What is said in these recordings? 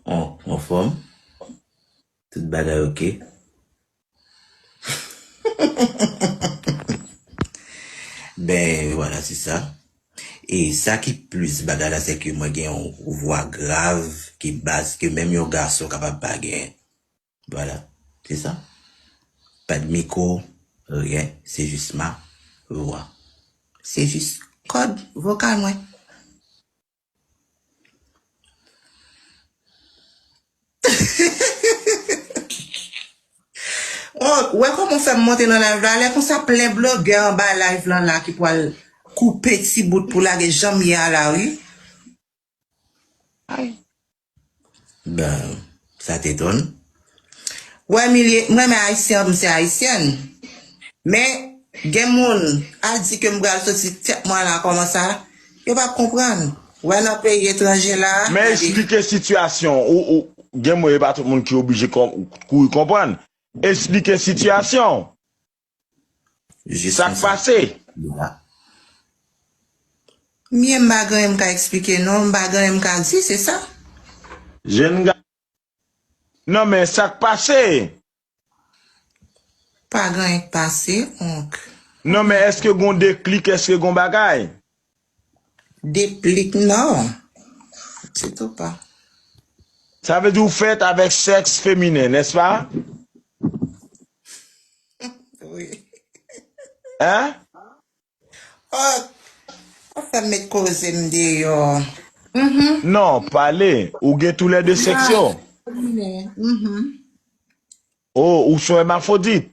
Ou anfòm? Tout bagay ok? Ben vwala se sa. E sa ki plis bagay la se ke mwen gen yon vwa grav ki bas ke menm yon gason kapab pa gen. Vwala. Se sa. Pa gen mikwo, ryen, se jis ma vwa. Se jis kòd vokal mwen. Oh ou wè kòman ou fèm monte nan live la lè konsa plen blogè anba live lan la ki pwal koupe ti bout pou lage janm ye a la wi. Bon, sa te done. Wè Milie, m renmen Ayisyen anpl m se Ayisyèn. Men, gen moun, al di ke m pral soti tèt mwen la kòman sa, yo pap konprann. Wè nan peyi etranje la, gade. Men esplike sitiyasyon ou, ou, gen moun e pa tout moun ki oblije kouri konprann. Esplike sitiyasyon ou. Jis konsa. Sak pase? Nou la. Mye m pa gen anyen m ka eksplike non, m pa gen anyen m ka di, se sa? Jenn ga. Non men sak pase? Pa gen anyen k pase, onk. Non men èske gon deklik, èske gon bagay? Deplik nan pitit ou pa. Sa vle di ou fèt avèk sèks feminen, nèspa? Wi. Hein? Oh, pa fè m met koze m deyò. Uhmm. Non, pale. Ou gen tou lè de sèks yo? Feminen, uhmm. Oh, ou son èmafodit?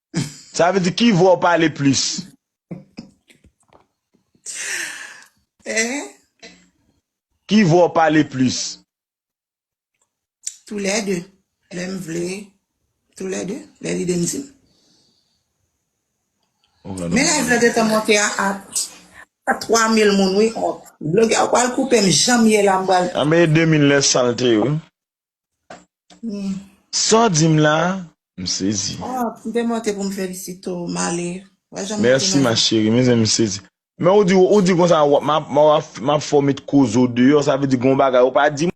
Sa vle di ki vwa ou pale plis. Hein? Ki vwa ou pale plis. Tou lè 2. Lè m vle. Tou lè 2. Lè lide m di. Men live la gentan monte a 3000 moun wi. Blogè ou pral koupe m janm ye la m pral. Anmeyy 2000 lè sal te ye wi. Sa w di m la a? M sezi. Oh, m te monte pou m felisite w, Male. Wè jan m monte Merci nan ma chérie, mezanmi m sezi. Men ou di ou di konsa wap map map fè w met koze w deyò sa vle di gon bagay ou pa di mwen.